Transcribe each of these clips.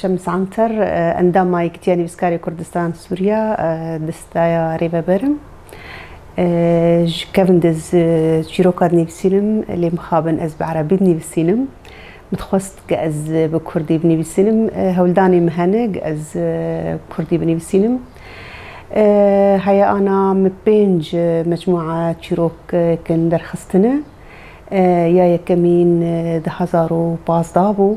Şems Anter, Endama Yekîtiya Nivîskarê Kurdistan Sûriya di staya Rêveber im. Ji kevin de çîroka dinivîsînim lê mixabin ez bi erebî dinivîsînim. Min dixwest ku ez bi kurdî binivîsînim. Hewldanê min hene ku ez bi kurdî binivîsînim. Heya ana min pênc mecmûa çîrok kin derxistine. Ya yekemîn di hezar û pazdeh bû.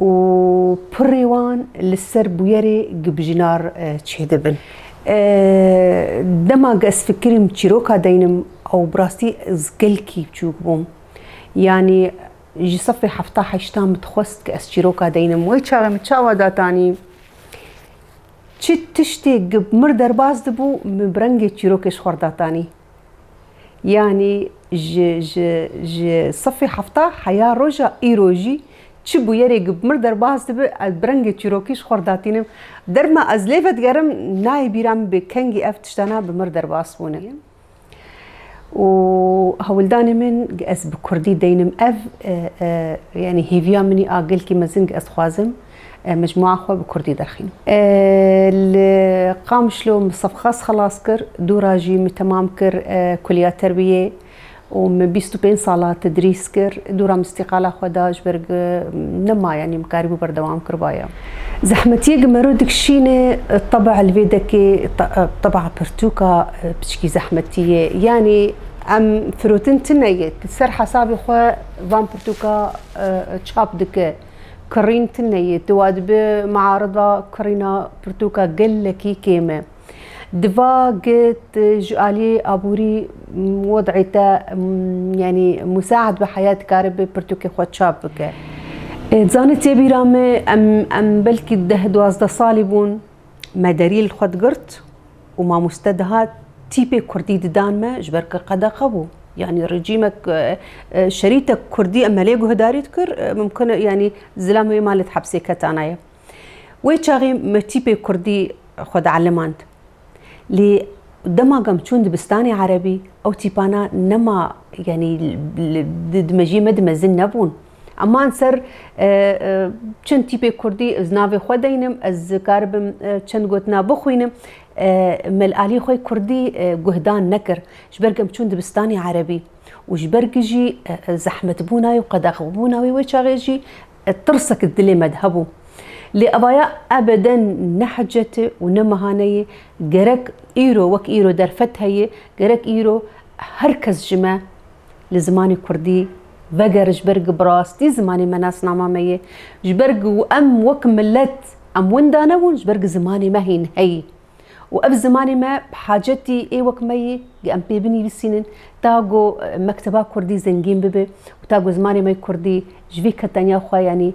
û pirrê wan li ser bûyerê gibjinar çêdibin. Dema ez fikirîm çîroka deynim ew bi rastî ez gelkî biçûk bûm. Yanî ji sefê hefta heşta min dixwest ku ez çîroka deynim. Wê çaxê min çawa datanî çi tiştê ku mir derbas dibû min bi rengê çîrokê ji xwe re datanî. Yanî ji ji ji sifî hefta heya roja îro jî çi bûyerê ku bi mir derbas dibe ez bi rengê çîrokî ji xwe re datînim. Derma ez lê vedigerim nayê bîra min bê kengî ev tiştana bi mir derbas bûne. Û hewldanê min ku ez bi kurdî deynim ev yanî hêviya min î a gelkî mezin ku ez dixwazim. mecmûa xwe bi kurdî derxîn. Li Qamişlo min sefxas xelas kir, dûra jî min temam kir kuliya terbiyê û min bîst û pênc sala tedrîs kir. Dûra min îstîqala xwe da ji ber ku nema yanî min karîbû berdewam kiribaya. Zehmetiyê ku mero dikişîne teba li vê dekê teba pirtûka piçikî zehmetî ye. Yanî em firotin tune ye, ti ser hesabê xwe van pirtûka çap dike. Kirîn tune ye. Tu wa dibî miarida kirîna pirtûka gelekî kêm e. Di va ged ji aliyê aborî wed'î te yanî musa'ed be heya dikaribe pirtûkê xwe çap bike. Zanî tê bîra me em belkî deh duwazdeh salî bûn me derî li xwe digirt û mamoste dihat tîpê kurdî didan me ji ber ku qedexe bû. Yani rejîmek şerîtek kurdî em melê guhdarî dikir mimkun e yani zilam wê malet hepsê ketanaye. Wê çaxê me tîpê kurdî xwe dielîmand. Lê dema gam çûn dibistanê erebî ew tîpana nema yani di mejiyê me di mezin nebûn. Eman ser çend tîpê kurdî ez navê xwe deynim, ez karibim çend gotina bixwînim. Mel Alî xwe kurdî guhdan nekir. Ji ber ku em çûn dibistanê erebî û ji ber ku jî zehmetbûna wê û qedexebûna wê wê çaxê jî tirsek di dilê me de hebû. Lê evaya ebeden ne hicete û ne mehane ye. Gerek îro wek îro derfet heye, gerek îro her kes ji me Li zimanê kurdî vegere ji ber ku bi rastî zimanê me nasnama me ye, ji ber ku em wek milet em winda nebûn, ji ber ku zimanê me hîn heyî û ev zimanê me bi hacetî ê wek me yê ku em pê binivîsînin ta ku mekteba kurdî zengîn bibe û ta ku zimanê me kurdî ji vê keteniya xwe yanî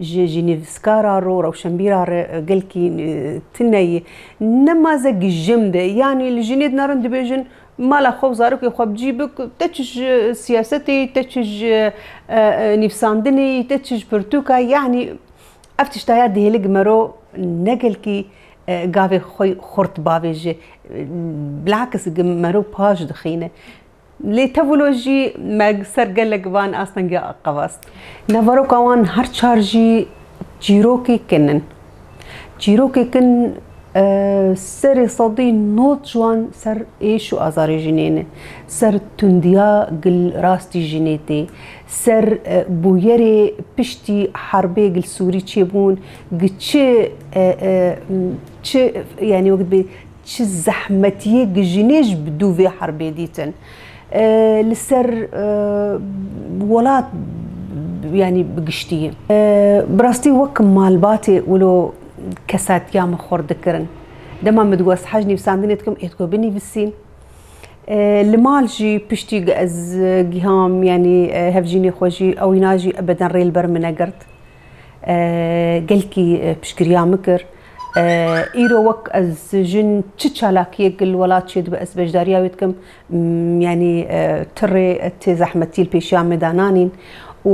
Ji ji nivîskar a ro rewşenbîra re gelkî tune ye. Ne ma ze gijim de yanî li jinê dinarin dibêjin mala xwe û zarokê xwe bi cî bik te çi ji siyasetê yî te çi ji nivîsandinê yî te çi ji pirtûka yî yanî ev tişta ya dihêle gimero ne gelkî gavê xwe xurt bavê ji bilakis gimero paş dixîne. Lê tevlo jî me ser gelek van astengî qevast. Neveroka wan her çar jî çîrokî kin in. Çîrokî kin serê sedî nod ji wan ser êş û azarê jinê ne, ser tundiya gil rastî jinê tê, ser bûyerê piştî herbê gilsûrî çêbûn, gi çi çi yanî wekdibê Çi zehmetiyê gijînê ji bi dû vê herbê dîtin. Li ser welat yanî bi giştiyê. Bi rastî wek malbatê wilo kesatiya min xurt dikirin. Dema min digot ez hej nivîsandinê dikim ê digot binivîsî. Li mal jî piştî ez giham yanî hevjînê xwe jî ewîna jî ebeden rê li ber min negirt. Gelkî piştgiriya min kir. Îro wek ez jin çi çalakiyek li welat çê dibe ez beşdariya wê dikim. Yanî ti rê ti zehmetî li pêşiya me de nanîn û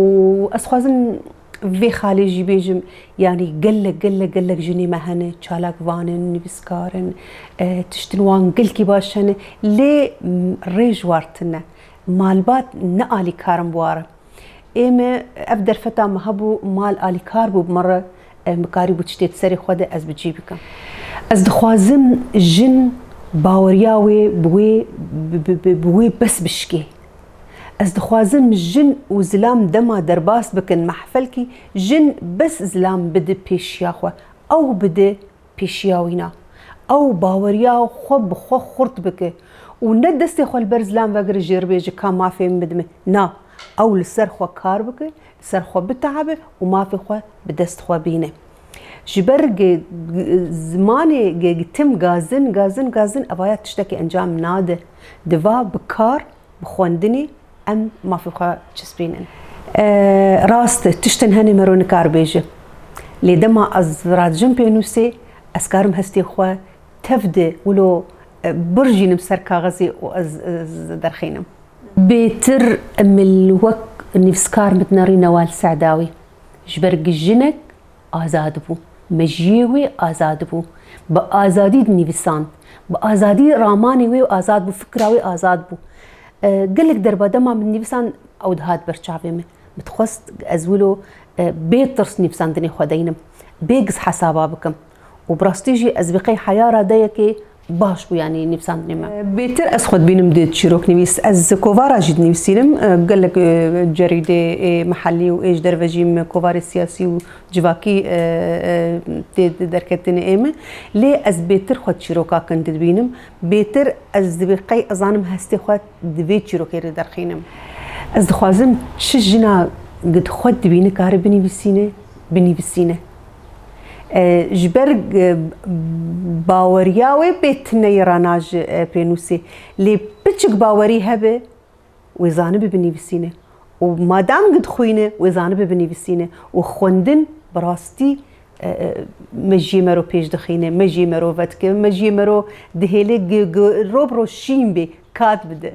ez dixwazim vê xalê jî bêjim yanî gelek gelek gelek jinê me hene çalak van in, nivîskar in, tiştên wan gelkî baş hene lê rêj war tune. Malbat ne alîkar in bi warin. Ê me ev derfeta min hebû, mal alîkar bû bi min re mikarîbû tiştê di serê xwe de ez bi cî bikim. Ez dixwazim jin baweriya wê bi wê bi wê bes bişikê. Ez dixwazim jin û zilam dema derbas bikin mehfelkî jin bes zilam bide pêşiya xwe, ew bide pêşiya wî na. Ew baweriya xwe bi xwe xurt bike û ne destê xwe li ber zilam vegire jê re bê ji ka mafê min bidime. Na, ew li ser xwe kar bike, li ser xwe bitehibe û mafê xwe bi dest xwe bîne. Ji ber zimanê gegitim gazin, gazin, gazin evaya tiştekî encam nade. Diva bi kar, bi xwendinê, em mafê xwe çispînin. Rast e, tiştên hene me ro nikar bêje. Lê dema ez radijim pênûsê, ez karim hestê xwe tev de wilo birjînim ser kaxizê û ez derxînim. Bêtir em li wek nivîskar mit nerî Newal Se'dawî ji ber ku jinek azad bû. Mejiyê wê azad bû. Bi azadî dinivîsand. Bi azadî ramanê wê azad bû, fikra wê azad bû. Gelek derba dema min nivîsand ew dihat ber çavê min. Min dixwest ez wilo bê tirs nivîsandinê xwe deynim. Bê giz hesaba bikim. Û bi rastî jî ez vê qey heya radeyekê Baş bû yanî nivîsandinê me. Bêtir ez xwe dibînim di çîroknivîs. Ez kovara jî dinivîsînim. Gelek cerîdê ê mihellî û ê ji derve jî min kovarê siyasî û civakî tê derketinê ê min. Lê ez bêtir xwe çîroka kin didibînim. Bêtir ez divê qey ez zanim hestê xwe di vê çîrokê re derxînim. Ez dixwazim çi jina gid xwe dibîne kare binivîsîne, binivîsîne. Ji ber baweriya wê bê tineyî re na ji pê nûsê. Lê piçik bawerî hebe wê zanibe binivîsîne û madam ku dixwîne wê zanibe binivîsîne û xwendin bi rastî mejiyê me ro pêş dixîne, mejiyê me ro vedike, mejiyê me ro dihêle ku rov bi roj şîn bê, kat bide.